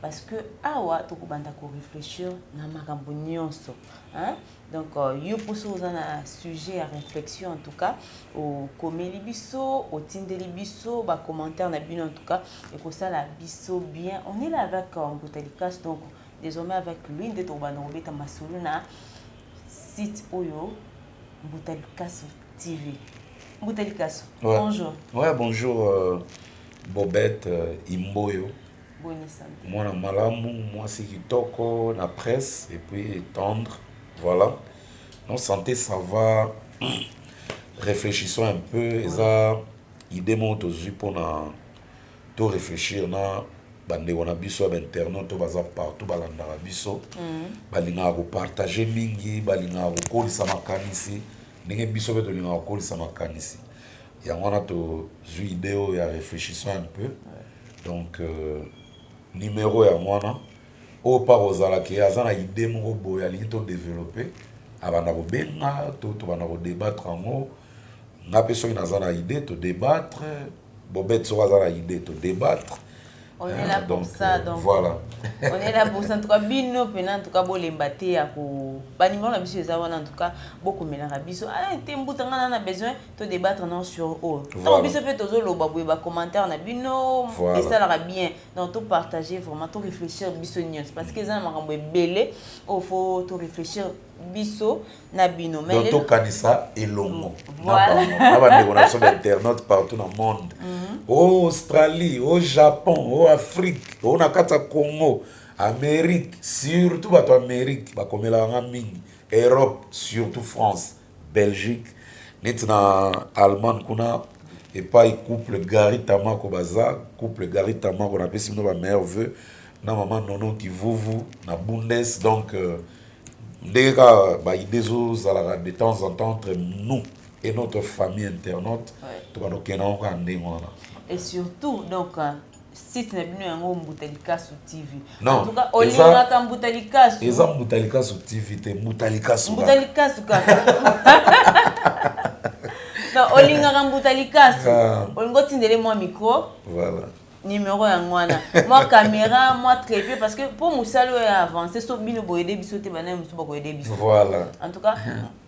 parce que awa tokobanda koreflechir na makambo nyonso donc euh, yo mposo oza na sujet ya réflexion en tout cas okomeli biso otindeli biso bacommentaire na bino en tout cas ekosala biso bien on est là avec euh, mbuta likas donc désormais avec lui nde tokobanda kobeta masolo na site oyo mbuta likasu tv mbuta likasu ouais. bonjour ouais bonjour euh, bobette euh, imboyo boni sante mwana malamu mwasi kitoko na presse et puis tendre voilà non sante ça va réfléchissons un peu eza idée moko tozwi mpona to réfléchir na bandeko na biso ya bainternet to baza partout balandaka biso mm. balingaka kopartage mingi balingaka kokolisa makanisi ndenge biso mpe tolingaka kokolisa makanisi yango wana tozwi idée oyo ya réfléchissons un peu ouais. donc euh, numero yango wana oyo mpa kozala ke aza na idee moko boye alingi todevelope abanda kobenga to tobanda kodebattre yango nga mpe soki naza na idee todebattre bobete soki aza na idee todebattre On est là pour ça, donc. Voilà. on est là pour ça. En tout cas, bino, pena, en tout cas, bo lembate, ako. Ba numéro na biso, eza wana, en tout cas, boko mela na biso. Ah, te mbuta, nga na besoin. to débattre non sur oyo ntango biso mpe tozoloba boye bacommentaire na bino esalaka bien donc to partage vraiment to réfléchir biso nyonso parce que eza na makambo ebele oyo fo to réfléchir biso na bino donc tokanisa elongo mm, na bandeko na biso bainternaute partout na monde mhm. o oh, australie o oh, japon o oh, afrique o na kati ya congo amérique surtout bato ya amérique bakomelaka nga mingi europe surtout france Belgique neti na Allemagne kuna epai couple Gary Tamako baza couple Gary Tamako na pesi bino ba meilleurs vœux na maman Nono Kivuvu na Bundes donc euh, ndenge kaka ba idées ezo zalaka de temps en temps entre nous et notre famille internaute tobanda kokenda yango kaka ndenge wana et surtout donc euh, site na bino yango mbuta likasu tv en tout cas olingaka mbuta likasu eza mbuta likasu tv te mbuta likasu mbuta likasu kaka non olingaka mbuta likasu ah. olingi otindele mwa micro voilà numéro yango wana mwa caméra mwa trépied parce que mpo mosala oyo ya avance so bino boyede biso te banaye mosusu bakoyede biso voilà en tout cas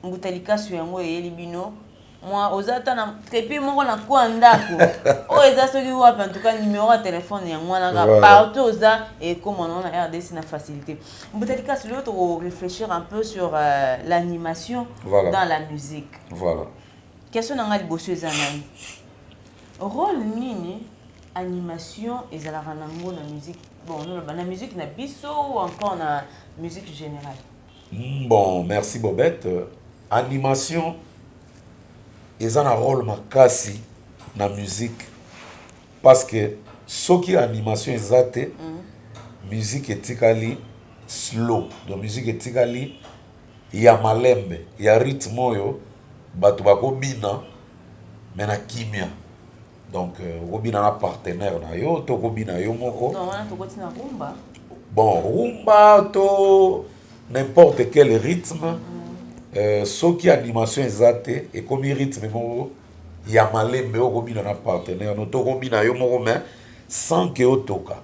mbuta likasu yango eyeli bino mwa oza ata na trepi moko na ko ya ndako oyo eza soki wapi en tout cas numéro ya telefone yango wana kaka partout oza ekoma nango na rdc na facilité mbotali kasi lelo toko réfléchir un peu sur euh, l'animation voilà. dans la musique voilà question na ngai liboso eza nani rôle nini animation ezalaka nango na musique bon noloba na musique na biso ou encore na musique générale Hum, bon merci Bobette animation eza na role makasi na musique parce que soki animation eza te mm. musique etikali slow donc musique etikali ya malembe ya rythme oyo bato bakobina me na kimia donc euh, okobina na partenaire na yo to okobina yo moko non wana tokoti na rumba bon rumba to n'importe quel rythme mm -hmm. euh, soki animation eza te ekomi rythme moko ya malembe oyo okobina na partenaire no to okobina yo moko mais sans ke otoka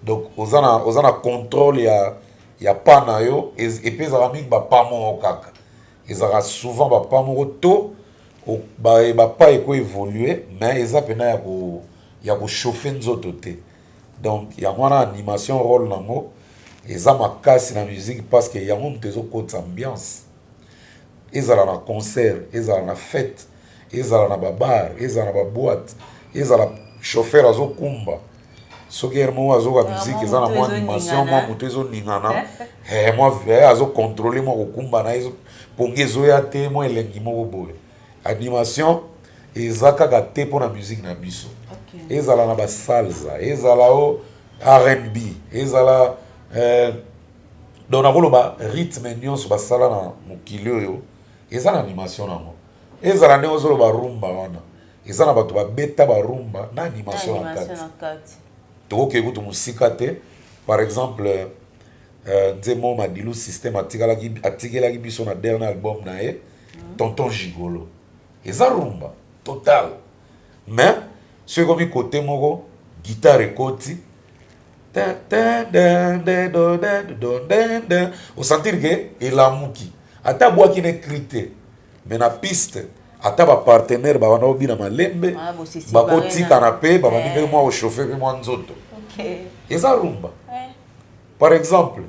donc oza na oza na contrôle ya ya pa na yo epe ezalaka mingi bapa moko kaka ezalaka souvent ba pas moko to ba ba pas eko évoluer mais eza pena ya ko ya ko chauffer nzoto te donc yango wana animation rôle nango eza makasi na musique parce que yango moto ezokotisa ambiance ezala na concert ezala na fête ezala na ba bar ezala na ba boite ezala chauffeur azokumba soki heure moko azoka musique eza na mwa animation mwa moto ezoningana eh, mwa eh, azocontrole mwa kokumba na ye pongi ezoya te mwa elengi moko boye animation eza kaka te mpo na musique na biso ezala na basalza ezala o rnb ezala eh, donc nakoloba rythme nyonso basala na mokili oyo Eza na animation nango. Ezala ndenge ozo loba rumba wana. Eza na bato ba beta ba rumba na animation na kati. Toko ke kutu musika te. Par exemple euh, Nzemo Madilu système atikalaki atikelaki biso na dernier album na ye mm. Tonton Gigolo. Eza rumba total. Mais soki ekomi kote moko guitare ekoti osentir ke elamuki ata abwaki ne cri te mais na piste ata bapartenaire babanda kobina malembe ah, bakotikana mpe babandi mpe eh. mwa kochauffe mpe mwa nzoto eza rumba eh. par exemple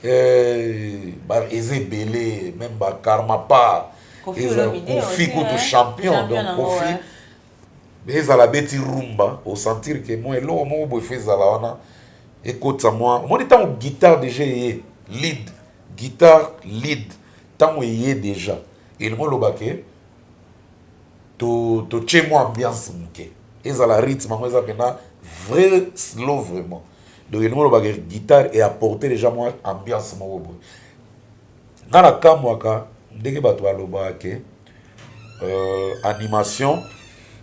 eh, eza ebele meme bakarmapa kofi kutu champion donc kofi mais ezala abeti rumba au sentir que moi eloko moko boye fo ezala wana ekotisa mwa omoni ntango guitare deja eye lead guitare lead ntango eye deja elingo oloba ke totie to mwa ambiance moke ezala rythme yango eza mpena vrai slow vraiment donc elingo oloba ke guitare eapporte deja mwa ambiance moko boye Nga na kamwaka ndenge bato balobaka ke euh, animation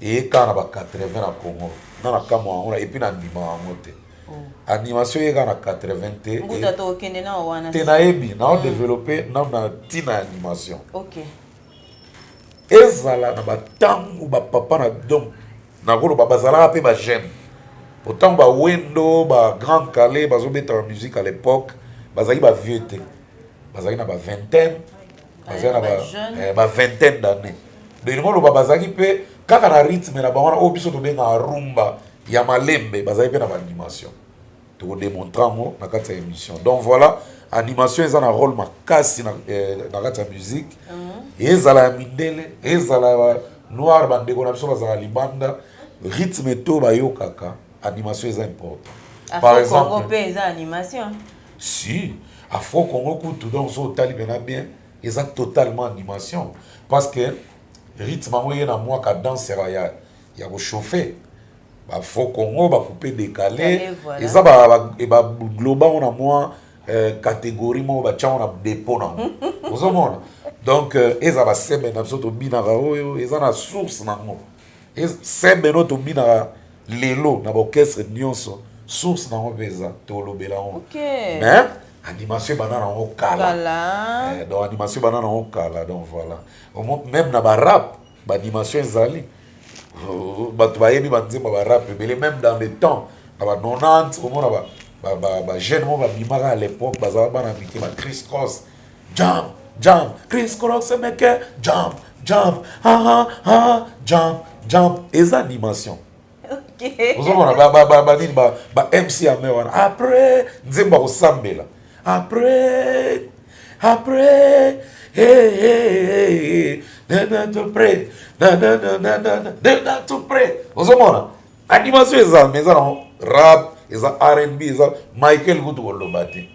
eye kaka na ba 80 na Congo. Nga na kamwaka yango na epi na ndima yango te. Oh. Animation eye kaka na 80 te. Mbuta to okende na wana. Te nayebi na o mm. développer na na tina ya animation. Okay. Ezala na ba tango ba papa na donc Nakoloba bazalaka pe ba jeune po tango ba wendo ba grand kalle bazo beta ba musique à l'epoque bazalaki ba vieux te bazalaki na ba vingtaine bazalaki na ba, ba vingtaine d'année donc elingi oloba bazalaki pe kaka na rythme na bango wana oyo biso tobengaka rumba ya malembe bazalaki pe na ba animation toko demontre yango na kati ya émission donc voilà animation eza na rôle makasi na, eh, na kati ya musique mm -hmm. ezala ya mindele ezala ya noir bandeko na biso bazala libanda rythme to bayokaka animation eza important Afro par exemple Congo mpe eza animation si afro congo kutu donc so otali mpena bien eza totalement animation parce que rythme yango eye na mwaka danse ya, ya kochauffe ba faux congo ba coupe décalé eza ba ba globa on a moins euh, catégorie moko ba tchango na dépôt na ozo mona donc euh, eza ba semaine na biso to bina ka oyo eza na source na ngo semaine oyo to bina ka lelo na ba orchestre nyonso source na ngo peza to lobela ngo okay. mais animation bana na ngo kala eh, donc animation bana na ngo kala donc voilà même na ba rap Ba dimension ezali bato bayebi ba nzembo ba rap ebele meme dans le temps na ba 90 omona ba ba ba ba jeune mo babimaka à l'époque bazala bana mike ba Chris Cross jump jump Chris Cross meke jump jump ha ha ha jump jump eza dimension ozomona banini ba mc ame wana après nzembo akosambela après après ozomona animation eza me eza nango rap eza rnb eza michael kutu koloba te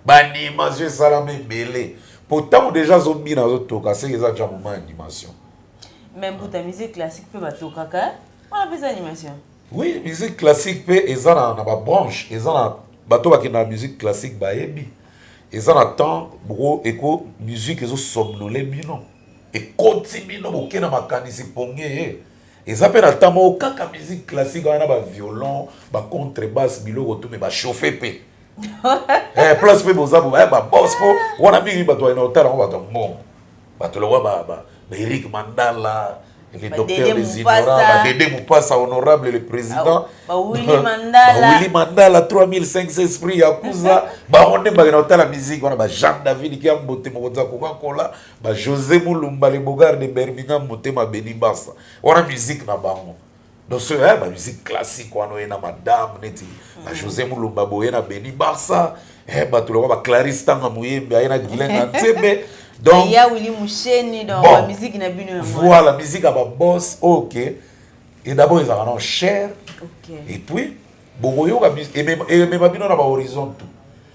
baanimation esalama ebele mpo ntango deja azobina azotoka seke eza ja moma animation Mais mbuta musique classique pe batokaka hein? wana pesa animation. Oui, musique classique pe eza na na ba branche, eza na bato bakenda na musique classique bayebi. Eza na temps bro eko musique ezo somnole bino. Ekoti bino boke na makanisi ponge ye. Eza pe na temps moko kaka musique classique wana ba violon, ba contrebasse biloko tout mais ba chauffer pe. eh place pe boza bo eh ba boss po wana mingi bato wana otala ngo bato mbongo. Bato lokola ba, ba, ba Eric Mandala, le docteur des ignorants, ba Dede Mupasa, honorable le président, ba Willy Mandala, ba Willy Mandala, 3500 esprits ya kuza, ba honde ba na otala musique wana ba Jean David ki ambote mokonza koka kola, ba José Mulumba le bogar de Birmingham motema beni basa. Wana musique na bango. donc soki eh, bamusike classique wana oye na madame neti na josé mulumba boye na beni barça eh, bato lokola baclarise ntanga moyembe aye na gilenga nzembe donc ya wili musheni donc bon, musique na bino yango voilà musique ya baboss ok et d'abord ezalaka non cher okay. et puis bokoyoka emema bino na bahorizon tout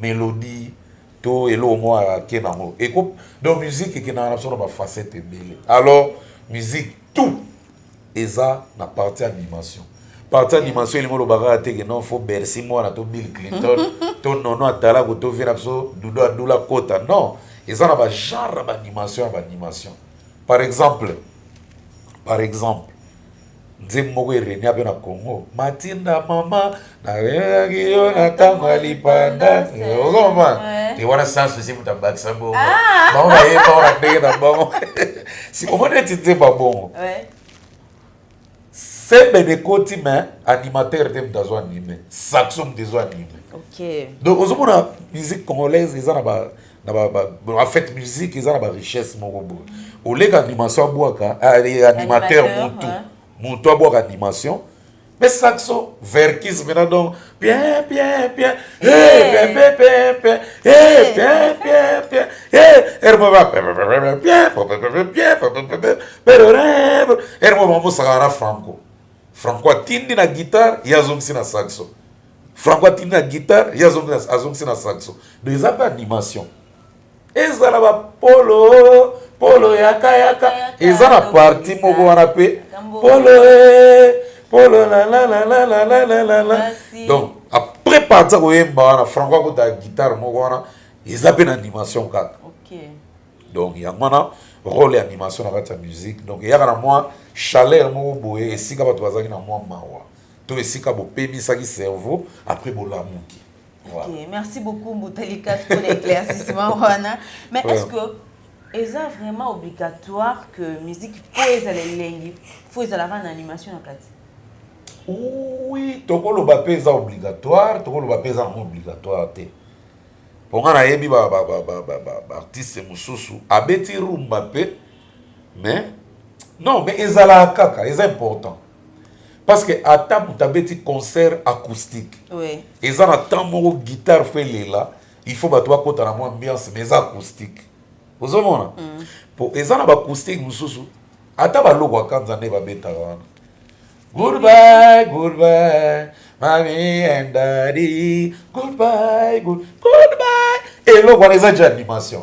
melodie to eloko moko ake nango eko donc musique ekendaka na biso na bafacette ebele alors musique tout eza na partie animation partie animation elingi oloba kaka te ke non fo bercy mwana to bill clinton to nono atalaku to vie na biso dudo adula kota non eza na bagenre ya baanimation ya baanimation par exemple par exemple nzembo moko erenia mpe na congo matinda mama nayaki yo na ntango ya lipanda ozomba te wana sans souci moto abakisa bongo ah. bango bayeba wana ndenge na bango si omoni eti nzembo ya bongo sembe nekoti me animateur te moto azwa anime saxo moto ezwa anime donc ozomona musique congolaise eza na ba na ba, ba, en fait musique eza na ba richesse moko boye oleka animation abwaka eh, animateur mutu mutu abwaka animation mais saxo verkis mena donc bien bien bien hey bien bien bien bien hey bien bien bien hey ermo ba bien bien bien bien pero rebo ermo ba musaka na franco franco atindi na guitare yazongisi na saxo Franco atindi na guitare ye azongisi na saxo donc eza mpe animation ezala bapolo polo yakayaka eza na parti moko wana mpe polo eh, polo lalalalalalalala donc après parti ya koyemba wana franco akota guitare moko wana eza mpe na animation kaka donc yango wana role ya animation na kati ya musique donc eyaka na mwa chaleur moko boye esika bato bazalaki na mwa mawa to esika bopemisaki cerveau après bolamuki voilà. okay. merci beaucoup mbutalikas pour l'éclaircissement wana mais est ce que eza vraiment obligatoire que musique po ezala elengi fo ezalaka na animation na kati oui tokoloba mpe eza obligatoire tokoloba mpe eza yango obligatoire te mpo ngai nayebi baartiste mosusu abeti rumba mpe mais non mais ezalaka kaka eza important parce que ata moto abeti concert acoustique oui. eza na temps moko guitare fo elela il faut bato bakota na mwa ambiance mais eza acoustique ozomona mm. po eza na baacoustique mosusu ata baloko akanza nde babetaka wana goodbye goodbye mami and daddy goodbye good, goodbye eloko wana eza ja animation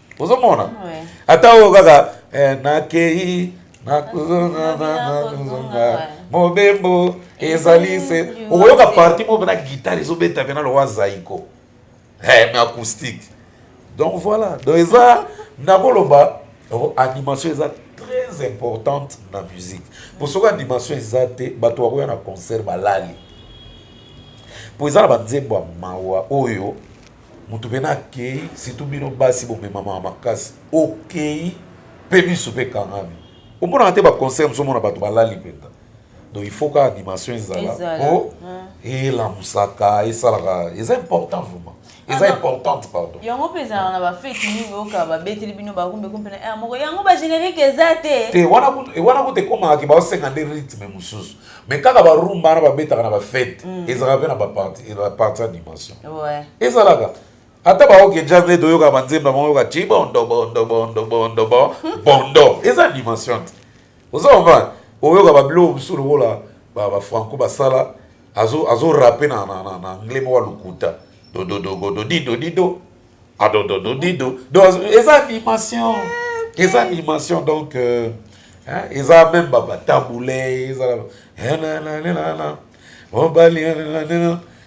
ozomona ata oyo kaka eh, nakei nakozonga mobembo ezali se okoyoka parti moko mpena guitare ezobeta mpena lowa zaiko eh, mais acoustique donc voilà donc eza nakoloba oh, animation eza très importante na musique mpo soki animation eza te bato bakoya na concert balali mpo eza na banzembo ya mawa oyo moto pena akei surtout bino basi bomemamaka makasi okei mpe miso mpe ekangami omonaka te baconcert moso omona bato balali mpenza donc il faut ka animation ezala mpo elamusaka esalaka eza important vraiment eza importante pardon yango mpe ezalaka na bafeti mingi oyoka babeteli bino bakumbeko mpena eh, moko yango bagénérique eza te te wana kutu ekomaka ke baosenga nde rythme mosusu mais kaka barumba wana babetaka na bafete mm. ezalaka mpe na baparti eh, ya dimension ezalaka ata baoke jazz nde toyoka banzemba moko yoka ti bondo bondo bondo bondo bondo eza dimension te oza komprendre oyoka babilo mosusu lokola bafranco basala azorape na anglais moko ya lokuta dododododido adodododido donc eza dimension eza dimension donc euh, hein, eza même batabule eza mobali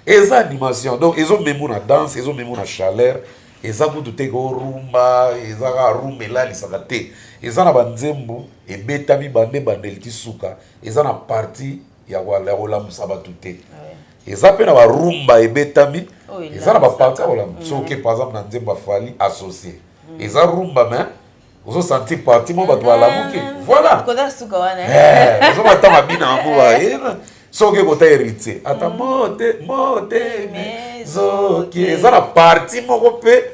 eza dimension donc ezomemo na danse ezomemo na chaleur eza kutu te korumba eza kaka rumba elalisaka te eza na banzembo ebetami bande bandeli ti suka eza na parti ya kolamusa bato te eza mpe na barumba ebetami eza na baparti ya kolamusa mm. soki par exemple na nzembo afali associe mm. eza rumba mais ozo sentir parti mo bato balamuki mm. voilà eh, ozo bata mabina yango baye soki ekota héritier ata mote mote mizoki eza na parti moko mpe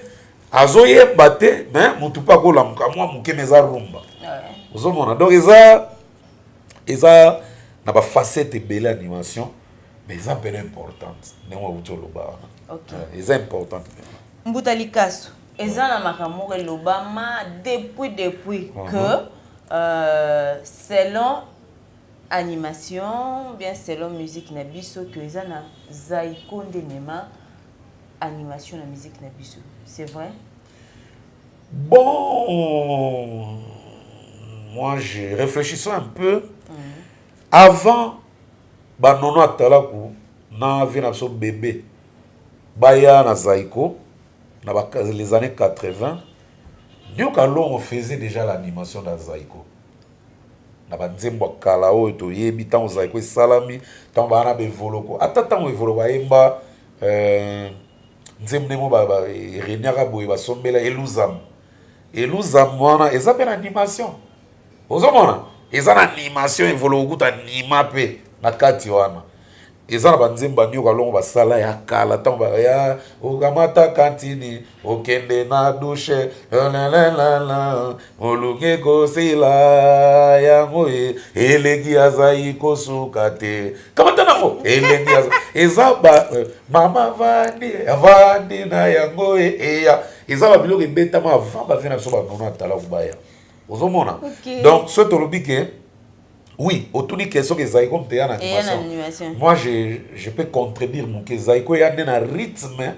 azoyemba te mais motu mpe akolamuka mwa moke me eza rumba ozomona donc eza eza na ba facette ebele ya dimension mais eza mpena importante ndenge auti oloba wana okay. Eh, eza importante mpena mbuta likasu eza na makambo moko elobama depuis depuis uh -huh. que euh, selon animation bien selon musique na biso que eza na zaiko nde mema animation na musique na biso c'est vrai Bon, moi je réfléchissons un peu. Mm. Avant, bah non, non, talaku, na vie na biso bébé. Baya na Zaiko, na ba, les années 80. Dieu Kalongo faisait déjà l'animation dans Zaiko. na banzembo ya kala oyo toyebi ntango zaiko esalami ntango baa na bevoloko ata ntango evoloko ayemba euh, nzembo ndenge ba reniaka boye basombela eluzam eluzam wana eza mpe na animation ozomona eza na animation evolo okuta nima mpe na kati wana eza na banzembo banioka longo basala ya kala ntango baya okamata kantini okende na dushe lalala Oluki ekosila yango e, eleki azali kosuka te kamata nango eleki eza ba eh, mama vandi avandi na yango e, eya eza ba biloko ebetama avant bafe na biso banono atala kubaya ozomona okay. donc soki tolobi ke oui otuni ke soki ezali ko mpeya na animation moi je, je peux contredire moke ezali koya nde na rythme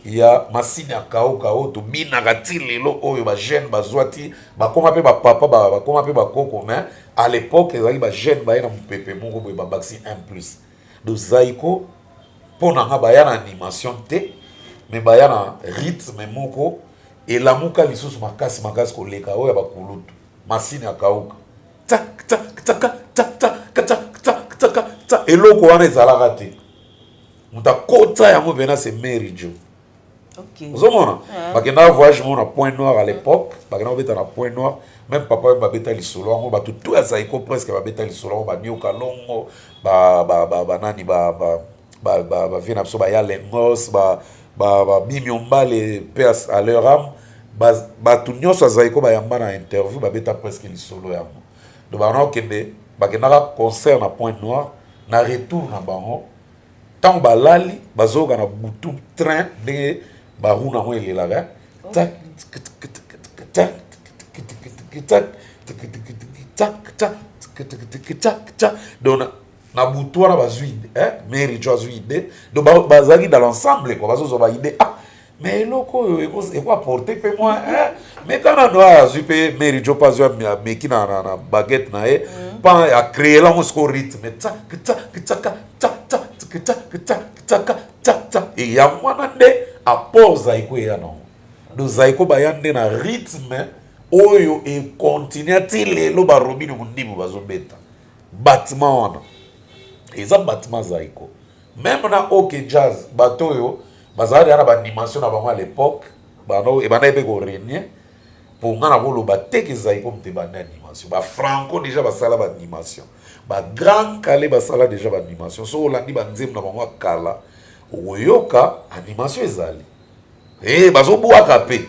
ya masini ya kauka oyo tobinaka ti lelo oyo ba jeune bazwa ti bakoma mpe bapapa bakoma mpe bakoko mais à l'époque ezalaki ba jeune baye na mopepe moko boye babakisi un plus do zaiko mpo na nga baya na animation te me baya na rythme moko elamuka lisusu makasi makasi koleka oyo ya bakulutu masini ya kauka eloko wana ezalaka te moto akota yango mpena se mary jo ozomona ah. bakendaka voyage moko na point noir à l'époque bakenda kobeta na point noir même papa oyo babeta lisolo yango bato to ya zaiko presque babeta lisolo yango banioka longo banani bavie na biso baya lengos babimi ombale mpe à leur ame bato nyonso ya zaiko bayamba na interview babeta presque lisolo yango donc bakenda kokende bakendaka concert na point noir na retour na bango ntango balali bazoyoka na butu train ndenge baruna yango elelaka donc na butu wana bazwi ide mary jo azwi ide donc bazalaki dans l'ensemble kua bazozwa baide ah mais eloko oyo eko apporte mpe mwa mais tana ndo aya azwi mpe mary jope azwi ameki na baguette na ye mpa mm. acree lango siko rythme e yango wana nde apport zaiko eya nango do zaiko baya nde na rythme oyo ekontinue ti lelo barobine mondimu bazobeta batima wana eza batima zaiko Meme na OK Jazz bato oyo bazala deja na baanimation na bango à l'époque bano ebandaki mpe koregne mpo ngai nakoloba te ke zaiko mpe banda animation bafranco deja basala baanimation bagrand kale basala deja baanimation soki olandi banzembo na bango ya kala okoyoka animation ezali e bazobwaka mpe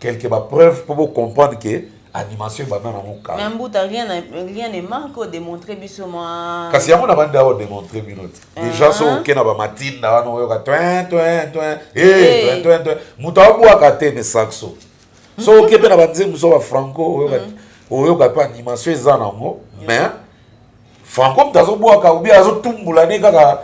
Quelque ba preuve pour vous comprendre que animation ebanda na mokala. Mais mbuta rien rien ne manque au démontrer biso mwa. Kasi yango na banda au démontrer bino te. Ah. Déjà so oke na ba matinda wana oyoka twin twin twin. Eh twin twin twin. Mutu abwaka te mais saxo. So oke pe na ba nzembo so ba franco oyoka mm. oyoka pe animation eza nango mais Franco moto azobwaka obi azotumbula ne kaka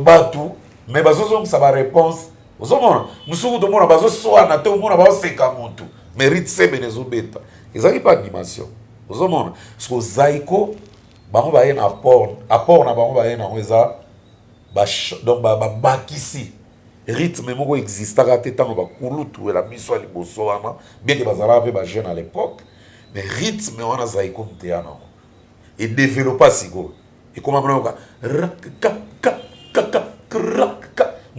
bato me bazozongisa bareponse ozomona mosuku tomona bazoswana te omona baoseka motu merite semene ezobeta ezalaki mpe animation ozomona siko zaiko bango baye na apport apport na bango baye nango eza donc babakisi ba rythme moko existaka te ntango bakulutu ela miso ya liboso wana bieke bazalaka mpe bajeune à l'époque mais rythme wana zaiko moteya nango e developa sikoyo ekoma mona yoka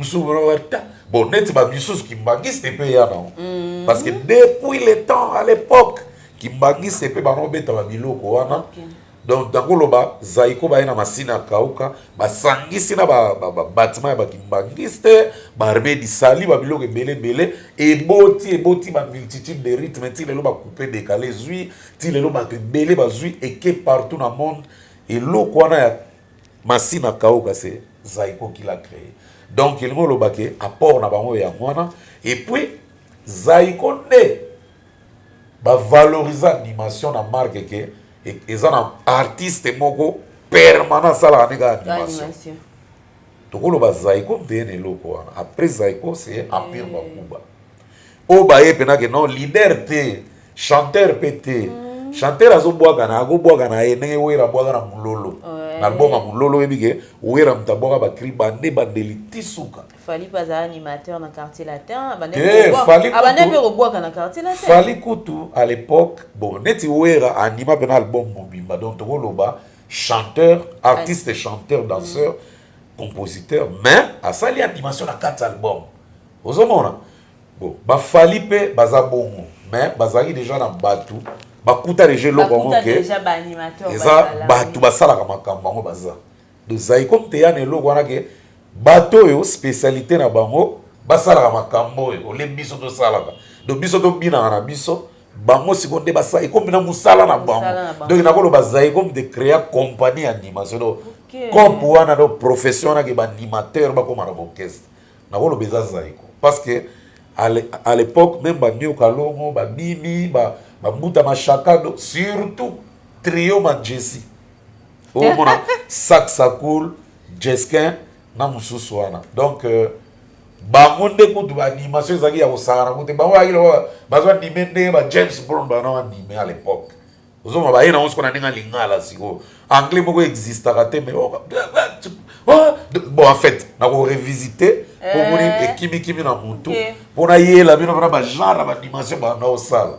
mosusu ta bon neti bamisusu kimbangiste mpe ya nango mm. parce que depuis le temps à l'époque kimbangiste mpe bango beta babiloko wana okay. donc ntango oloba zaiko baye na masina akauka basangisi na babatima ya bakimbangiste barbe disali babiloko ebele ebele eboti eboti bamultitude de rythme nti lelo bakupe dekale ezwi ti lelo bato ebele bazwi eke partout na monde eloko wana ya masina kauka se zaiko kila cree donc elingi oloba ke apport na bango yango wana epuis zaiko nde bavaloriza animation na marke ke e, eza na artiste moko permanent asalaka nde kaka animation tokoloba zaiko mpe na eloko wana après zaiko se empire mm. bakuba oyo baye mpena ke non leader te chanteur mpe te mm. chanteur azobwakana akobwakana ye ndenge wera abwaka na mololo na album ya mololo oyebi ke wera moto abwaka bakri bande bandeli ti suka fali mpe azala animateur na quartier latin abandaki mpe kobwaka na quartier latin fali kutu à l'époque bon neti wera anima mpena album mobimba donc tokoloba chanteur artiste chanteur danseur mm. compositeur mais asali animation na quatre album ozomona bon bafali mpe baza bongo mais bazalaki deja na bato bakuta deja eloko yango ke eza bato basalaka makambo yango baza dozali comme teya na eloko wana ke bato oyo spécialité na bango basalaka makambo oyo olembi biso tosalaka donc biso tobinaka na biso bango siko nde basala ekomi na mosala na bango donc nakoloba zai ekomi de créa compagnie ya animation donc cope wana donc profession wana ke baanimateur bakóma na baorchestre nakoloba eza zaiko parce que à l'époque même banio kalongo babimi bambuta mashaka donc surtout trio manjesi omona saxacool jesquin na mosusu wana donc euh, bango nde kutu baanimation ezalaki ya kosakana kute bango bayaki lokola bazo anime ndenge ba james brown bana anime à l'époque ozoma baye nango sikoyo na ndenge ya lingala sikoyo anglais moko existaka te mais oh, oh, bon en fait nakorevisite mpo moni eh. ekimikimi na motu mpo nayela bino mpona bagenre ya badimension bana osala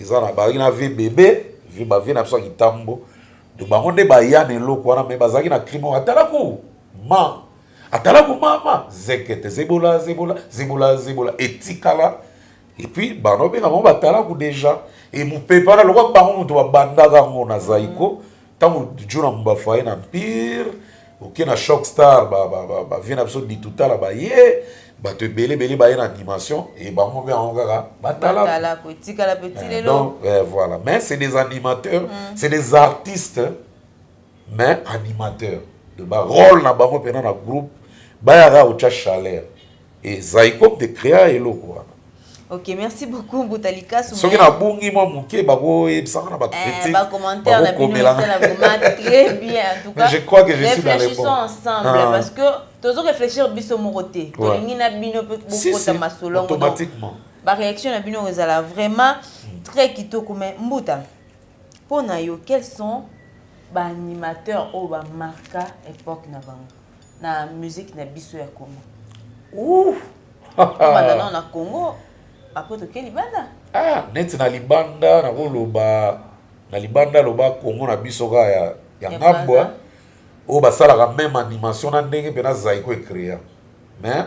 eza na bazalaki na vie bebe vie ba vie na biso ya kitambo donc bango nde baya na eloko wana me bazalaki na crime wana atalaku ma atalaku mama zekete zebola zebola zebola zebola etikala epuis bana obenga bango batalaku deja emupepana lokwa bango moto babandaka yango na zaiko mm. ntango djuna mbafu aye na empire oke na shock star bavie na biso ditutala baye bato ebele ebele baye na animation e bango mpe yango kaka batalakdonc eh, eh, voilà mais c'est des animateurs mm. c'est des artistes mais animateurs de barole na bango mpena na groupe bayaka kotya chaleur Et Zaïkop de créa eloko wana. Ok, merci beaucoup Mbuta Likasu. Soki na bungi mwa moke bako ebisanga na ba eh, critiques. Ba commentaires na bino na vraiment très bien en tout cas. Je crois que je suis dans les bons. ensemble ah. parce que tozo réfléchir biso moko te. Tolingi na bino pe bokota masolo ngo. Automatiquement. Ba réaction na bino ezala vraiment très kitoko mais Mbuta. Mpo na yo, quels sont ba animateurs oyo ba marka époque na bango? na musique na biso ya Congo Ouh! obanda nao na Congo après toke libanda ah neti na libanda nakoloba na libanda loba Congo na biso kaka ya, ya Ya ngambo Brazza. oyo basalaka meme animation na ndenge mpe na zaiko ecrea mais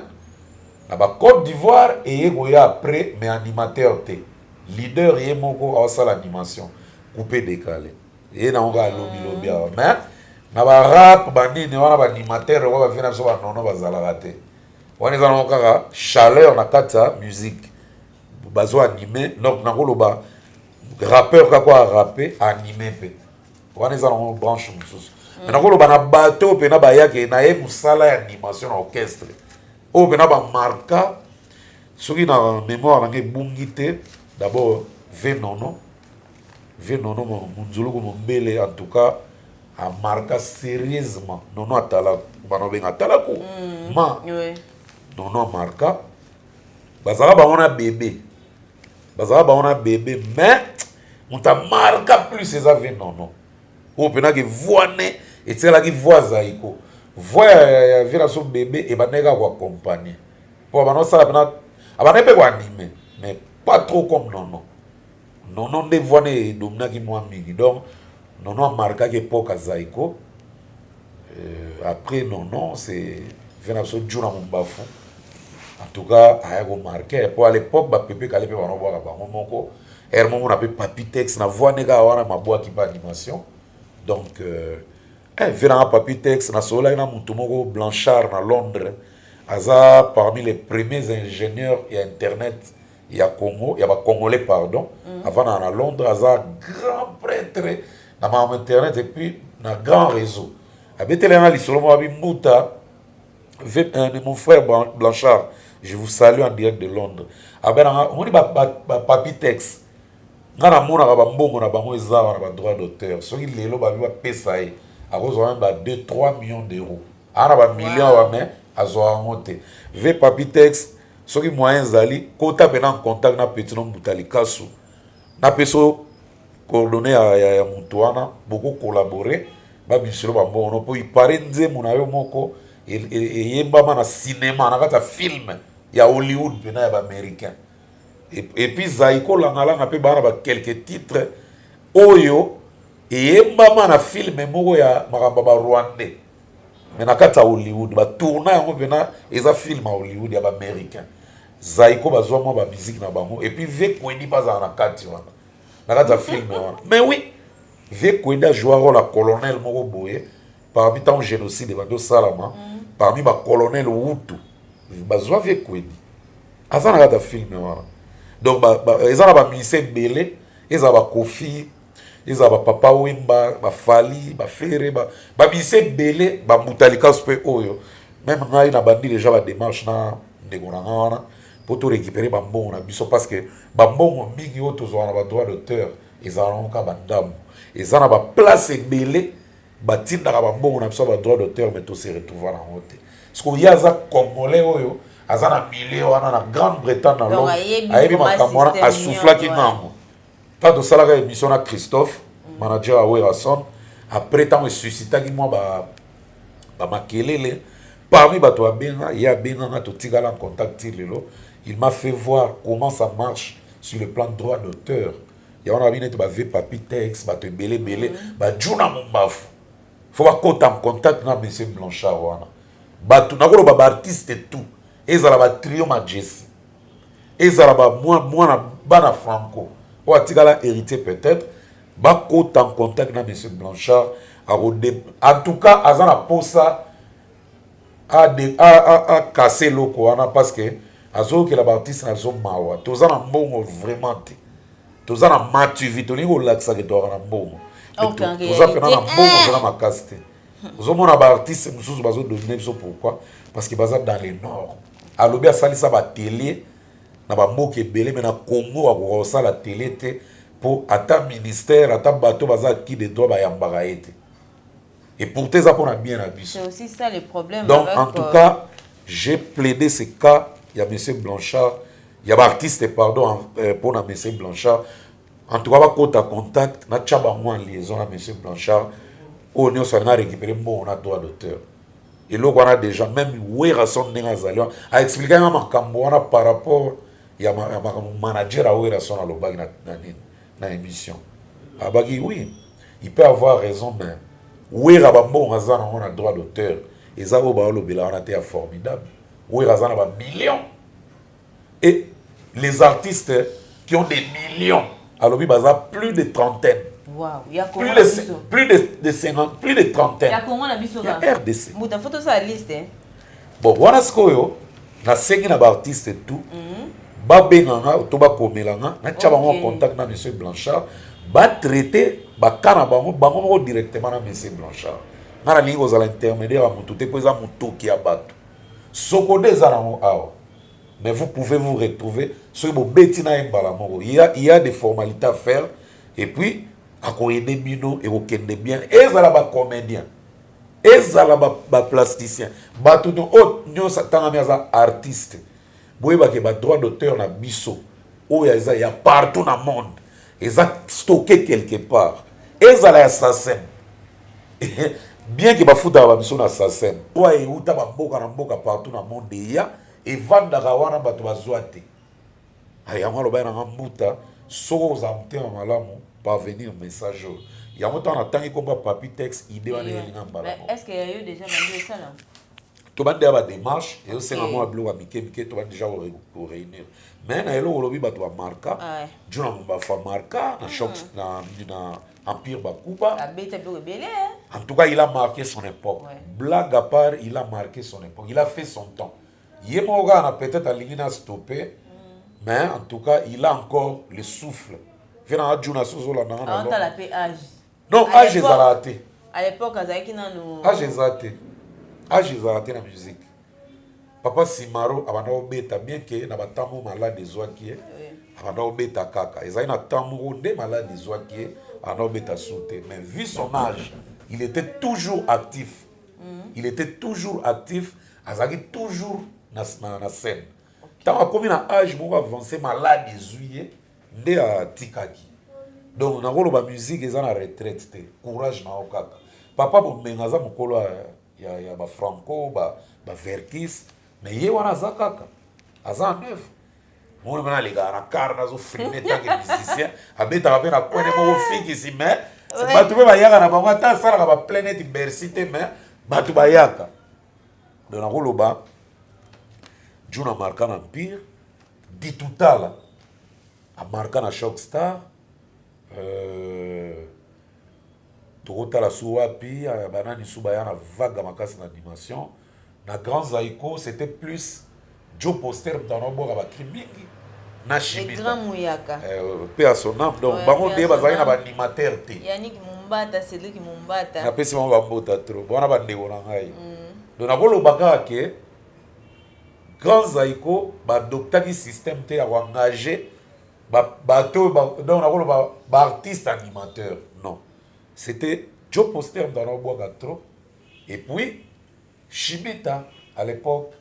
na ba Côte d'Ivoire eye koya après mais animateur te leader ye moko aosala animation coupe décalé ye nango kaka lobilobi awa mais na barap banini wana baanimateur oyo bavina biso banono bazalaka te wana eza nango kaka chaleur na kati ya musique bazo anime donc nakoloba rappeur kaka arape anime mpe wana eza nango branche mosusu mm. me nakoloba na bato oyo mpena bayake na ye mosala ya animation na orchestre oyo mpena bamarka soki na mémoire nange ebungi te d'abord venono Vieux Nono Munzuluku Mombele en tout cas a marqua sérieusement Nono Atalaku bana obenga Atalaku mm. ma oui. Nono a marqua bazalaka bango na bebe bazalaka bango na bebe mais moto a marqua plus eza vieux Nono oyo mpenaki voix ne etikalaki voix zaiko voix ya, ya vieux na so bebe ebandaki kaka koaccompagne mpo abanda osala mpena abandaki mpe koanime mais pas trop comme Nono Nono nde voix ne edominaki mwa mingi donc Nono a marquaki epoque ya Zaiko euh, après Nono c'est vient na biso Djuna Mumbafu en tout cas aya ko marquer po à l'époque ba pepe kale pe bana bwaka bango moko heure moko na pe papi texte na voix ne kaka wana mabwaki ba animation donc euh, eh, venanga papi texte nasololaki na motu moko blanchard na londres aza parmi les premiers ingénieurs ya internet ya Congo ya ba congolais pardon mm. avandaka na Londres aza grand prêtre na makambo internet et puis na grand réseau abeteli yanga lisolo moko abi mbuta euh, de mon frère Blanchard je vous salue en direct de Londres abenanga omoni ba, ba, ba papi texte nga namonaka bambongo na bango eza wana ba droit d'auteur soki lelo babi bapesa ye akozwa meme ba 2 3 millions d'euros ana ba million wow. wa me azwa yango te ve papi texte soki moyen ezali kota pena en contact na petit no mbuta likasu na peso coordonne ya, ya, ya moto wana boko collaborer babimiselo bambongo no mpo ipare nzembo na yo moko eyembama na cinéma na kati ya filme ya hollywood mpena ya baaméricain epuis zai kolangalanga mpe bana ba quelque titre oyo eyembama na filme moko ya makambo ya barwandais mais na kati ya hollywood batourna yango mpena eza film ya hollywood ya baaméricain zaiko bazwa mwa bamiziki na bango epuis vie kuedi mpe azala na kati wana na kati ya filme wana mais oui vie kuedi ajua role ya colonel moko boye parmi ntango génocide ebandi osalama mm. parmi bacolonel wutu bazwa vie kuedi aza na kati ya filme wana donc eza na bamise ebele ezala bakofi ezala ba papa wemba ba fali ba fere ba ba bise bele ba mbutalikas pe oyo meme ngai na bandi deja ba démarche na ndeko na ngai wana po to récupérer ba mbongo na biso parce que ba mbongo mingi oyo tozwa na ba droit d'auteur ezala nango ka ba ndambo eza na ba place ebele batindaka ba mbongo na biso ba droit d'auteur mais to se retrouver na yango te sikoyo ye aza congolais oyo aza na milieu wana na grande bretagne na londres ayebi makambo wana asuflaki ngango Ntango tosalaka emission na Christophe, mm. manager ya Werrason, après ntango esusitaki mwa ba, ba makelele parmi bato abenga ye abenganga totikala en contact ti lelo il m'a fait voir comment ça marche sur le plan droit d'auteur ya wana babi neti bave papi tex bato ebele ebele mm. bajuna mombafu fo bakota en contact na monsieur blanchard wana bato nakoloba baartiste tout ezala batrio majesi ezala ba mwana bana franco oyo atikala héritier peut-être bakota en contact na monsieur blanchard akode en tout cas aza na posa akase eloko wana parce que azoyokela baartiste na biso mawa toza na mbongo vraiment te toza na mativi tolingi kolakisaka toaka na mbongo toza mpena na mbongo toza na makasi te ozomona ba artiste mosusu bazo domine biso pourquoi parce que baza dans le nord alobi asalisa ba tele na bamboka ebele me na congo akoka kosala tele te mpo ata ministère ata bato baza ki de droit bayambaka ye te et pourtant eza mpo na bien na biso donc en tout euh, cas j'ai plaidé ce cas ya monsieur blanchard ya baartiste pardon mpo euh, na monsieur blanchard En tout cas, va kota contact, na tchaba moi en liaison à monsieur Blanchard. Oyo nyo sa na récupérer bon on a droit d'auteur. Et l'autre on a déjà même Werrason n'est azali. A expliquer ma makambo on a par rapport ya ma makambo manager à Werrason à l'obag na na na émission. Abaki oui, il peut avoir raison mais Werra ba bon azana on a droit d'auteur. Et ça au ba lobela on a été formidable. Werra azana ba millions. et les artistes qui ont des millions alobi baza plus de trentaine Wow. Ya plus Congo de, na ce- biso. plus de, de 50 plus de trentaine Ya Congo na biso ya ba. rdc Mbuta faut tosala liste. hein. bon wana sikoyo nasengi na baartiste tout babenga nga to bakomela nga natya bango en Ok. contact na monsieur blanchard batraite baka na bango bango moko directement na monsieur blanchard nga nalingi kozala intermédiaire ya motu te mpo eza motoki ya bato Sokoda eza nango awa mais vous pouvez vous retrouver soki bobeti na ye mbala moko il y a, il y a des formalités à faire et puis akoyede bino ekokende bien ezala bacomédien ezala baplasticien bato oyo nyonso atangami aza artiste boyeba ke ba droit d'auteur na biso oyo eza ya partout na monde eza stocke quelque part ezala ya sasem bien ke bafutaka ba biso na sasem oyo euta bamboka na mboka partout na monde eya evandaka wana bato bazwa te yango alobai nanga mbuta soki ozala motema malamu parvenir message oyo yango ntango natangi komba papi tex ide wana eyelinga mbala tobandi ya bademarche ezosenga mwa biloko ya mike mike tobandi deja koreunir mais na eloko olobi bato bamarka juna mombafu amarka na choc na empire bakuba en tout cas il a marqué son époque blague à part il a marqué son époque il a fait son temps ye moko kaka na peut-être alingi na stoppe mais en tout cas il a encore le souffle mpe na ajuna sozolandanga na non age ezalaka te à l'époque azalaki nanu age eza te age ezalaka te na musique papa simaro abanda kobeta bien ke na batango malade ezwaki ye abanda kobeta kaka ezali na temps moko nde malade ezwaki ye abanda kobeta su te mais vu son age il était toujours actif mm. il était toujours actif azalaki toujours na, na, na scène ntango akomi na age moko avance malade ezwi ye nde atikaki donc nakoloba musique eza na retraite te courage na yo kaka papa bombenga aza mokolo ya, ya bafranco bavertis ba me ye wana aza kaka aza en œuvre moni mpe nalekaka na kar nazofilme tanke musicien abetaka mpe na kwene moko fikisi me bato mpe bayaka na bango ata asalaka baplaine eti bercy te me bato bayaka donc nakoloba juna marka na mpire Ditutala amarka na Shock Star euh, tokotala su wapi euh, banani su baya na vaga makasi na dimension na Grand Zaiko c'était plus Joe Poster moto anaobwaka bakri mingi na shimita euh, pe à son âme donc bango nde bazalaki na baanimateur te Mumbata, Cédric Mumbata. Napesi bango bambota trop. Wana bandeko na ngai. Mm. Donc nakoloba kaka ke Grand Zaiko ba adoptaki système te ya ko engager ba bato oyo ba donc nakoloba ba artistes animateurs non c'était Joe Poster moto ana obwaka trop et puis Shibita à l'époque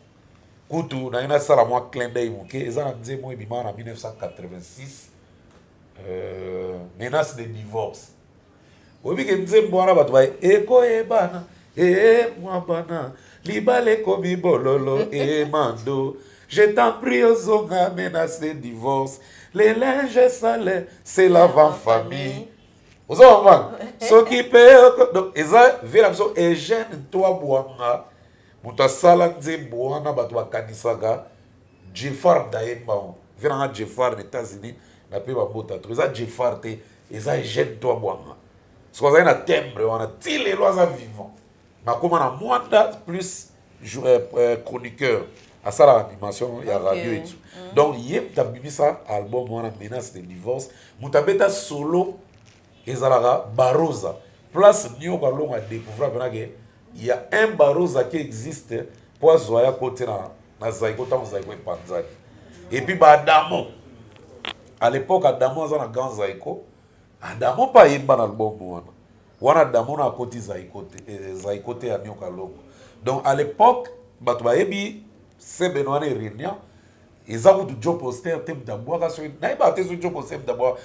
kutu naye nasala mwa clin d'œil moke eza na nzembo ebimaka na 1986 euh, menace de divorce Oyebi ke nzembo wana bato baye ekoyebana ee mwabana libala ekomi bololo ee mando je t'en prie ozonga menace divorce le linge sale c'est l'avant famille oza bamwana soki mpe donc eza vie na biso eugène toi bwanga moto asala nzembo wana bato bakanisaka jefar ndayembango vie nanga jefar na états-unis na mpe bambota to eza jefar te Eza Eugène Twabwanga. Soki azali na timbre wana ti lelo aza vivant. Nakoma na Mwanda plus euh, euh, chroniqueur asalaka animation ya radio etu mm. donc ye moto abimisa album wana menace de divorce moto abeta solo ezalaka barosa place nioka longa découvrir mpenake Il y a un baroza qui existe mpo azwa ya kote na, na zaiko ntango zaiko epanzani epuis baadamo à l'époque adamo aza na grand zaiko adamo mpe ayemba na albumu wana wana adamo na akoti zaiko te eh, zaiko te ya nioka longo donc à l'époque bato bayebi sebene wana erenia eza kutu jo poster te moto abwaka soki nayebaka te soki jo poster moto abwaka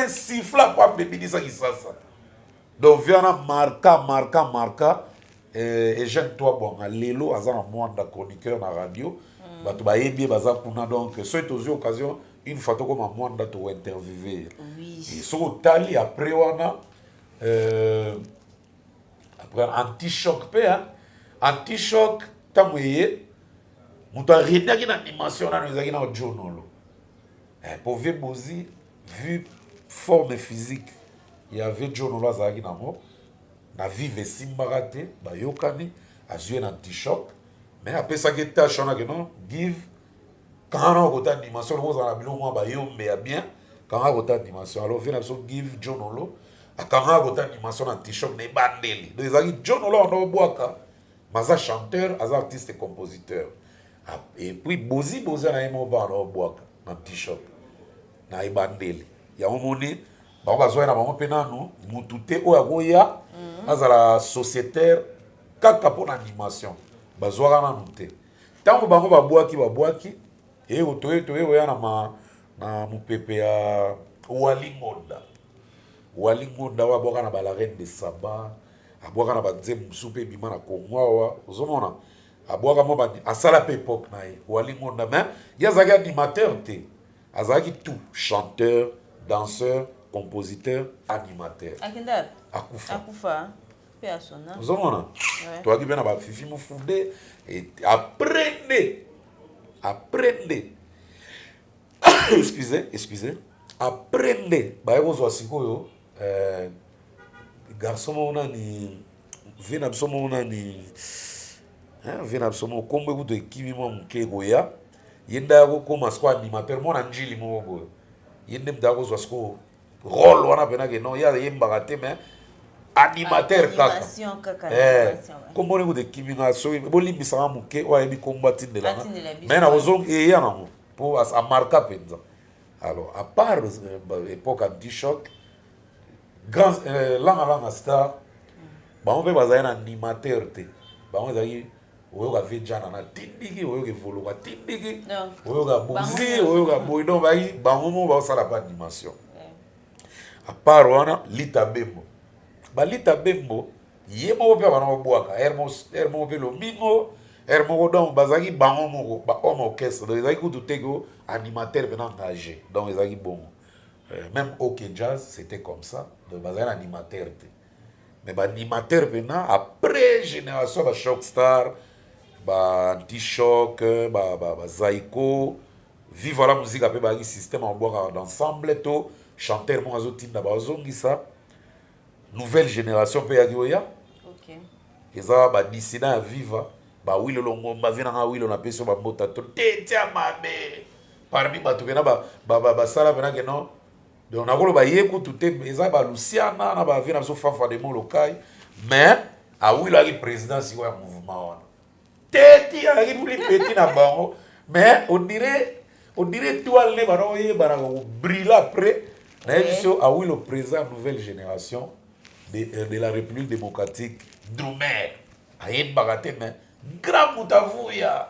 sifla po abebinisa kisasa donc viana marka marka marka eh, eugène toi bwanga lelo aza na mwanda chroniqueur na radio mm. bato bayebi ye baza kuna donc soki tozwi occasion une fois tokoma mwanda tokointerviewe ye soki otali après wana euh, après anti choc mpe hein. anti choc ntango eye moto aredaki na dimension nano ezalaki na ojonolo eh, mpo vie bozi vue forme physique ya vie jonolo azalaki nango na vive esimbaka te bayokani azwi ye na antichoc mais apesaki tâche wana keno give kangana okota dimension loko ozala na biloko mwa bayombe ya bien kangana kota dimension alors vie na biso give john olo akangana kota dimension na t-shirt na ebandeli donc ezalaki john olo wana obwaka maza chanteur aza artiste compositeur ah, et puis bozi boza na ye moko bana obwaka na t-shirt na ebandeli yango moni bango bazwa ye na bango mpe nanu mutu te oyo akoya mhm. azala sociétaire kaka mpo na animation bazwaka nanu te Tango bango babwaki babwaki eyo toye toye oya na ma na mupepe ya Wali Ngonda Wali Ngonda oyo abwaka na ba la reine de Saba abwaka na ba nzembo mosusu mpe ebima na Congo awa ozomona abwaka mwa bandi asala mpe epoque na ye Wali Ngonda mais ye azalaki animateur te azalaki tout chanteur danseur compositeur animateur Akenda akufa akufa ozomona toyaki mpe na bafifi mofude apres nde apres nde excuse excuse apres nde baye kozwa sikoyo eh, garçon moko nani vie na biso moko nani vie na biso moko nkombo ekutu ekimi mwa moke ekoya ye nde akokoma sikoyo animateur mwana njili moko boyo ye nde moto akozwa sikoyo role wana pena ke non ye ayembaka te mais animateur kaka eh, kombo ndenge tekimi nga soki bolimbisaka moke oyo ayebi kombo atindelanga mai nakozonga eya eh, yango mpo amarka mpenza alors à part euh, époque anti choc grand euh, langa langa star mm. bango mpe bazali na animateur te bango ezalaki oyoka vie jana na tindiki oyoka evoluka tindiki oyoka bozi oyoka boyi donc bayi bango moko baosala pa dimension apart wana lita bembo balita bembo ye moko mpe abana kobwaka ere moko mpe lomingo ere moko donc bazalaki bango moko bahomme orchestre donc ezalaki kutu te ko animateur mpena engage donc ezalaki bongo euh, même ok jazz c'était comme ça donc bazalaki na animateur te mais ba animateur pena après génération ba shock star ba anti choc ba ba, ba zaiko viva la musique ape ba système en boire d'ensemble to chanteur moko azotinda bazongisa nouvelle génération mpe yaki oya okay. eza badisina ya viva bawilo longomba vi nanga wilo napesi yo bambota to te tia mabe parmi bato kena basala mpenake no donc nakoloba ye kutu te eza ba luciana na ba vie na biso fafa de molokai mais awilaki président sikoyo ya mouvement wana te ti ayaki muli peti na bango mais on dirait on dirait étoile nde bana oyebana kobrille après nayebi so awilo président nouvelle génération de, euh, de la république démocratique drumer ayebaka te mais grand moto avuya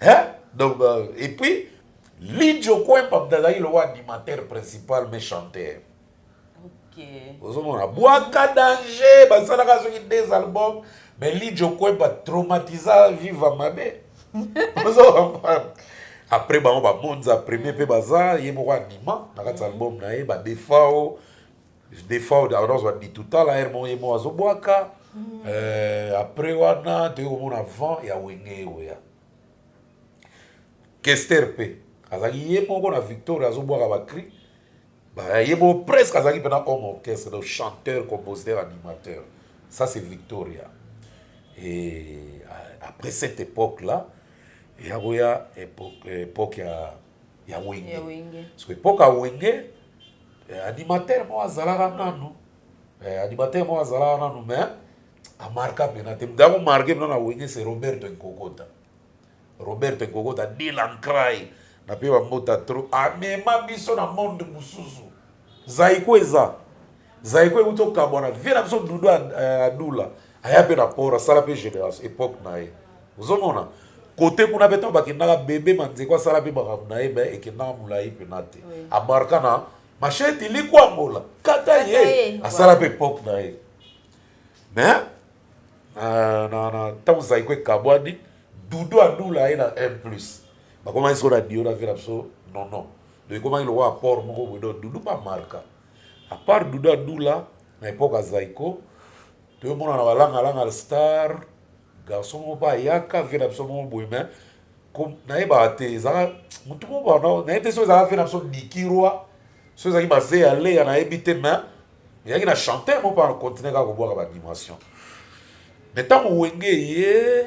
hein donc euh, et puis Lidjo Kwempa mtazaki lokola animateur principal mais chanteur okay. ozomona bwaka danger basalaka soki des albums mais Lidjo Kwempa traumatisa viva mabe ozomona après bango bamonza premier mpe baza ye moko anima na kati ya album na ye badefao des fois oda ozwa bitutala heure moko ye moko azobwaka mm. euh, après wana toyei komona vent ya wenge eweya kester mpe azalaki ye moko na victoria azobwaka bacri ye moko presque azalaki mpena homme orchestre donc chanteur compositeur animateur ça c'est victoria et après cette époque là eya koya époque ya ya wenge soki epoka wenge eh, animateur moko azalaka nanu eh, animateur moko azalaka nanu mais amarka mpena te mutu akomarke mpena na wenge se roberto nkokota roberto nkokota dilan cry na mpe bambota tro amema biso na monde mosusu Zaiko eza Zaiko ewuti okabwana vie na biso dudu eh, adula aya mpe na port asala mpe generation epoque na ye ozomona kote kuna mpe ntango bakendaka bebe manzeko asala mpe makambo na ye me ekendaka molai mpena te amarka na machete likwangola kata ye asala mpe epoque na ye me eh, ntango zaiko ekabwani dudu adula ye na 1 plus bakomaki soko na dio na vie na biso nonon donc ekomaki lokola apport moko boye donc dudu bamarka apart dudu adula na epoke ya zaiko toyomona na balangalanga star garçon moko mpe ayaka vie na biso moko boye mai nayebaka te ezalaka motu moko nayebi te so ezalaka vie na biso dikirwa so ezalaki baze ya leya nayebi te mai ezalaki na chanteur moko mpe na continue kaka kobwaka baanimation mai ntango wenge ye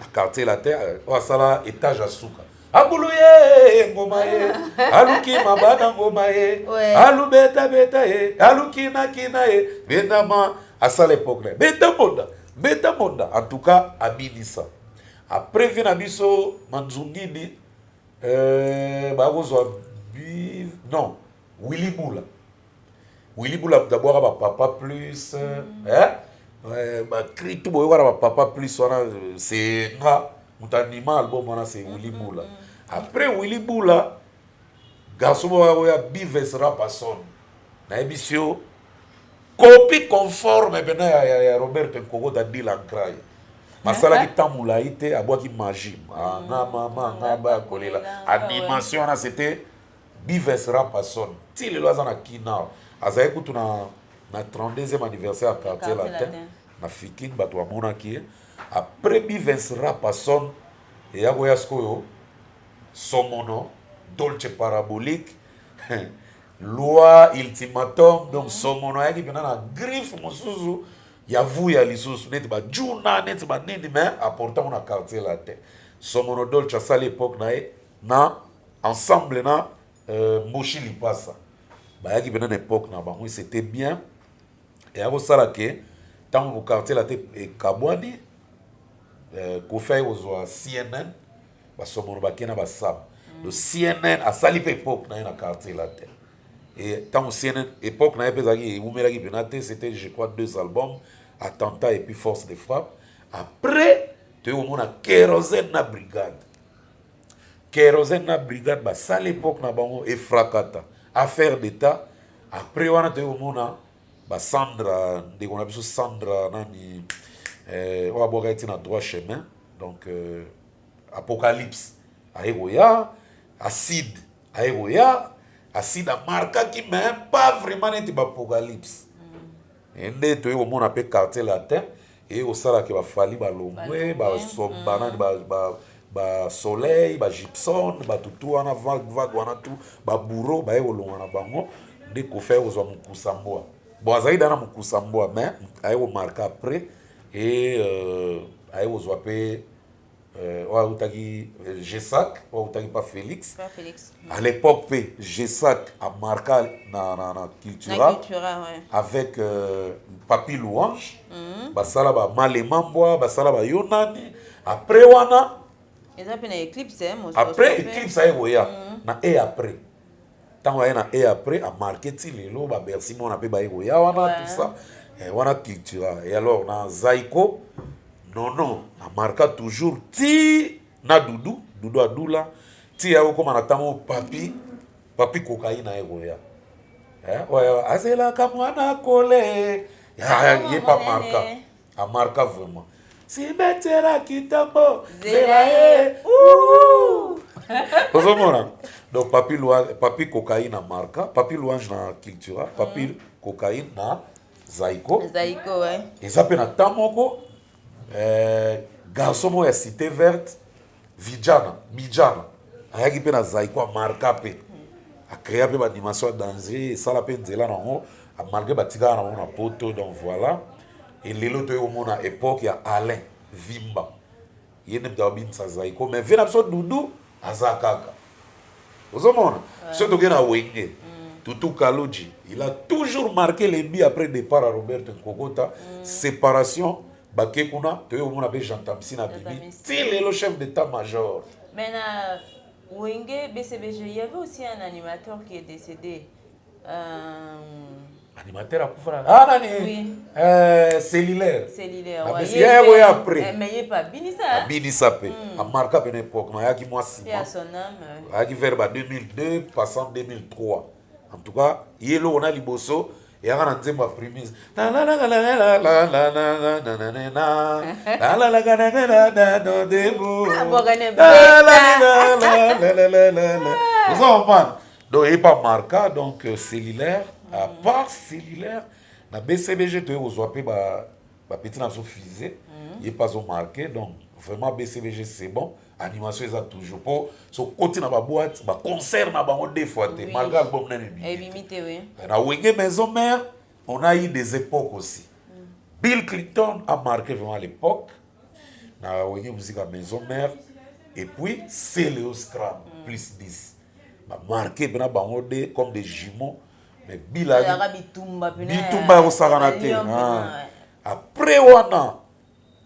na quartier latin oyo asala etage ya suka abulu ye ngoma ye aluki mabana ngoma ye alubetabeta ye alukinakina ye bendama asala epoke na ye beta bonda beta bonda en tout cas abinisa après vie na biso manzungidi euh, bakozwa non willy bula Willy Bula d'abord ba papa plus mm. hein euh, ba cri tout boyoka na ba papa plus wana euh, c'est nga moto anima album wana c'est Willy mm, mm, Bula après Willy Bula garçon moko ya Bives Rapason nayebi si yo copie conforme mpena ya, ya, ya Robert Nkoko da Dylan Cry asalaki ah, ah. ntango molai te abwaki magie nga mama nga bakolela animation wana c'était Bives Rapason ti lelo aza na Kinao, azali kutu na na 32e anniversaire ya quartier latin na Fikin, bato bamonaki ye après Bives Rapason eya koya sikoyo Somono Dolce Parabolique loi ultimatum donc Somono ayaki mpena na griffe mosusu ya vuya lisusu neti bajuna neti banini mais aportango na quartier latin Somono Dolce asali epoque na ye na ensemble na euh, mboshi lipasa bayaki mpena na epoque na bango c'était bien eya kosala ke ntango bokartier la te ekabwani euh, kofi aye kozwa cnn basomono bake na basam mm. donc cnn asali mpe epoque na ye na quartier la te e ntango cnn epoque na ye mpe ezalaki eumelaki mpena te c'était je crois deux albums attentat et puis force de frappe après toyei komona kerosene na brigade kerosene na brigade basala epoque na bango efrakata affaire d'etat après wana toyei komona basandra ndeko na biso sandra nani eh, oyo abwaka ye ti na droit chemin donc euh, apocalypse aye koya acide aye koya acide amarkaki mais pas vraiment neti baapocalypse Nde toye komona pe quartier latin eye kosala ke ba Fally balongwe ba som ba nani ba ba ba soleil ba Gibson batu tout wana vague vague wana tout ba bouro baye kolongwa na bango nde Koffi aye kozwa mokusa mbwa bon azalaki da na mokusa mbwa mais aye komarka après e euh, aye kozwa pe euh, oyo awutaki euh, gesac oyo awutaki pa felix à l'époque mpe gesac amarka na, na, na cultura ouais. avec euh, papi louange mm -hmm. basala bamalemambwa basala bayo nani après wana eza mpe na éclipse eh, après éclipse aye koya mm -hmm. na e après tango aye na e après a marquer ti lelo ba bercy mwana pe baye koya wana tout ça eh, wana cultura et alors na zaiko non non a marqua toujours ti na dudu dudu adula ti ya kokoma na tango papi papi kokaina ye koya eh, oyo azelaka mwana kole ye pa marka A marka vraiment. Simetera kitambo zela ye. Ozomona? Donc papi loi, papi cocaïne na marka, papi louange na cultura, papi mm. cocaïne na Zaiko. Zaiko ouais. Eza pe na temps moko euh garçon moko ya cité verte vijana mijana ayaki mpe na zaiko amarka mpe acrea mpe baanimation ya dangerie esala mpe nzela na yango malgré batikaka na bango na poto donc voilà elelo toyei komona époque ya alain vimba ye nde moto abimisa zaiko mais vie na biso dudu aza kaka ozomona soki tokei na wenge mm. tutu kaloji il a toujours marqué lembi après départ ya robert nkokota mm. séparation bake kuna toye komona mpe jean tamsi na bibi ti lelo chef d'état major mais na wenge bcbg il y avait aussi un animateur qui est décédé euh... animateur akufa na ah nani oui. euh, cellulaire cellulaire ouais. ye ye boye après eh, mais ye pa binisa abinisa pe mm. amarka pe na époque na yaki mwa sima ayaki vers ba 2002 passant 2003 en tout cas ye eloko na liboso mm. yaka na nzembo ya primis oza comprendre donc epa marka donc cellulaire à part cellulaire na bcbg toye kozwa mpe bapeti na biso fise ye mpe azomarke donc vraiment bcbg c'est bon animation eza toujours po so koti na ba boîte ba concert na bango deux fois te malgré album na ebimi te oui na wenge maison mère on a eu des époques aussi mm. Bill Clinton a marqué vraiment l'époque na wenge musique à maison mère et puis Celeo Scram mm. plus 10 ba marqué bena bango deux comme des jumeaux mais Bill a bitumba bitumba ya kosakana te après wana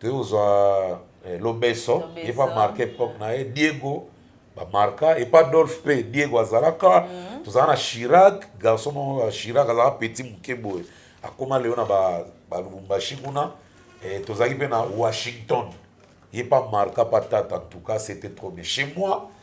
toye kozwa eh, lobeso ye pa marke epoque na ye diego bamarka epa dolphe mpe diego azalaka mhm. tozala na chirac garçon moko chirac azalaka petit moke boye akóma lelo na balubumbashi kuna eh, tozalaki mpe na washington ye pa marka pa tata en tout cas c'était trop bien chez moi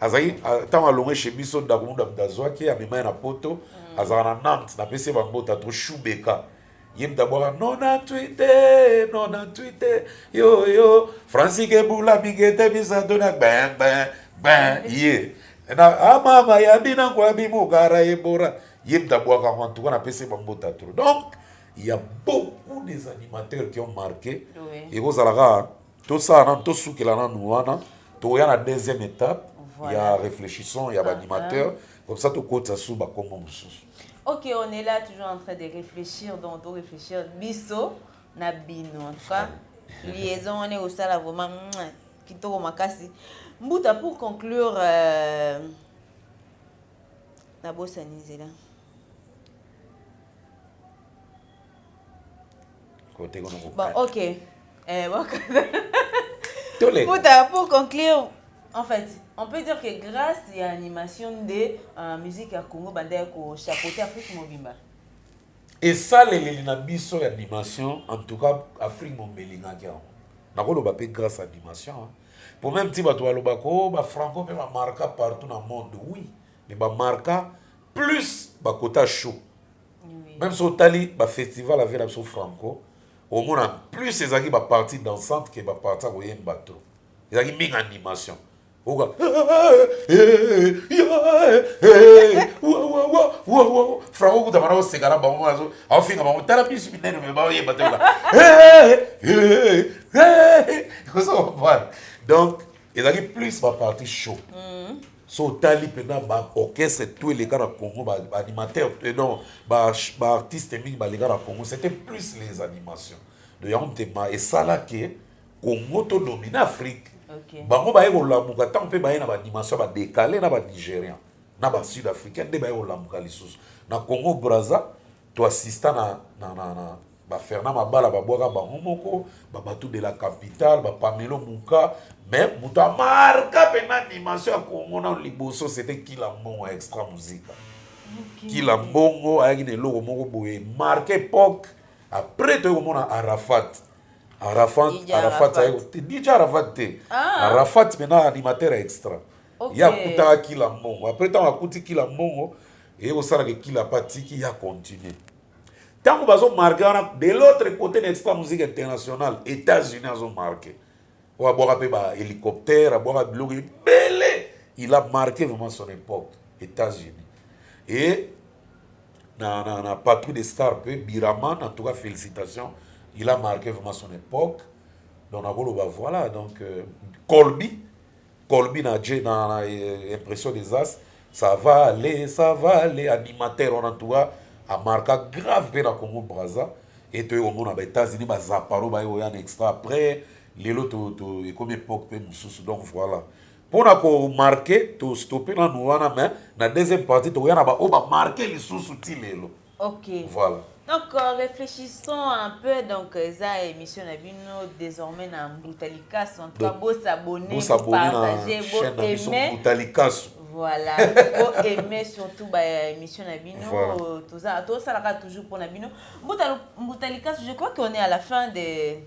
azalaki ntango alongwe chez biso ndako muda muda azwaki amema ye na poto mm. azalaka na nantes napesi ye bambota to shubeka ye mutu abwaka nona twite nona twite yoyo francike bula bigete bisato na ben ben ben ye na amama ah, ya bina nkwabi mokara ebora ye mutu abwaka yango antuka napesi ye bambota tro donc il y a beaucoup des animateurs qui ont marqué ekozala kaka tosala nanu tosukela nanu wana toya na deuxième étape voilà. ya réfléchissant ya ah, baanimateur ah. comme ça tokotisa susu bakombo mosusu ok on est là toujours en train de réfléchir donc to réfléchir biso na bino en tout cas liaison wana ekosala vraiment kitoko makasi mbuta pour conclure euh, nabosani nzela Côté comme Bon, ok. Eh, bon, Tous les... pour, ta, pour conclure, en fait, on peut dire que grâce à l'animation de euh, musique à Congo, bande ya kochapeauter Afrique mobimba. esaleleli na biso ya animation en tout cas afrique mombelingaki yango nakoloba mpe grâce à animation hein. po meme ti bato balobaka o oh, bafranco mpe bamarka partout na monde oui mais bamarka plus bakota chaud Même si otali ba festival avec la biso Franco, au moins plus ezalaki ba partie dansante que ba partie ya koyemba to. Ezalaki mingi animation. Oka Franco kuta bana oseka na bango azo afinga bango tala bisu minene mais ba yemba te. Donc ezalaki plus ba partie show. Mm. so otali mpena ba orchestre tout eleka na congo ba animateur eh non ba artiste mingi baleka na congo c'était plus les animations de yango motema esala ke congo to domine afrique okay. bango baye kolamuka ntango mpe baye na baanimation badekale na banigérien na basud africain nde baye kolamuka lisusu na congo braza toassista na, na, na, na, ba Fernand Mabala babwaka bango moko ba Batou de la Capitale ba Pamelo Muka mais moto amarka mpena dimension ya Congo na liboso c'était Kila Mbongo ya extra musica Kila Mbongo ayaki na eloko moko boye marque époque après toyei komona Arafat Arafat Arafat ayaki DJ Arafat te ah. Arafat mpena animateur ya extra ye akutaka Kila Mbongo après ntango akuti Kila Mbongo eye kosalaka ekila patiki ya continue ntango bazo marke wana de l'autre cote na expa musique internationale états-unis azo marke oyo abwaka mpe ba hélicoptère abwaka biloko ebele il a marqué vraiment son époque états-unis et na, na, na patrouille de star mpe biraman en tout cas félicitation il a marqué vraiment son époque donc nakoloba voilà donc euh, colby Colby na Jay na, na eh, impression des as ça va aller ça va aller animateur wana tuka amarka grave mpe na Congo Brazza et toyei komona ba États-Unis ba zaparo baye koya na extra après lelo to, to ekomi époque mpe mosusu donc voilà mpo na komarke tostope nanu wana mais na deuxième partie tokoya na baoyo bamarke lisusu ti lelo Ok. Voilà. Donc euh, réfléchissons un peu donc eza émission na bino désormais na Mbuta Likasu en tout cas bo s'abonner, bo s'abonner partager, bo aimer. Mbuta Likasu. Voilà. bo aimer surtout ba émission na bino voilà. Euh, toza to salaka toujours pour na bino. Mbuta Mbuta Likasu, je crois qu'on est à la fin des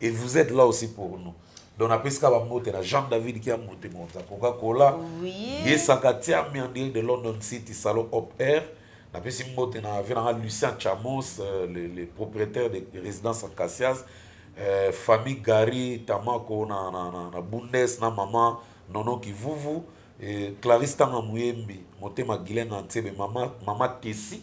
et vous êtes là aussi pour nous donc napesi kaka bambote na jean david kiambuti mokonzi ya coca cola ye sakatiami en direct de london city salon op air napesi mbote na vie nanga lucien chamos euh, le, le propriétaire de résidence acacias euh, famille gary tamako na, na, na, na bundes na mama nono kivuvu et clarisse tanga muyembi motema gilenga nsebe mama, mama kesi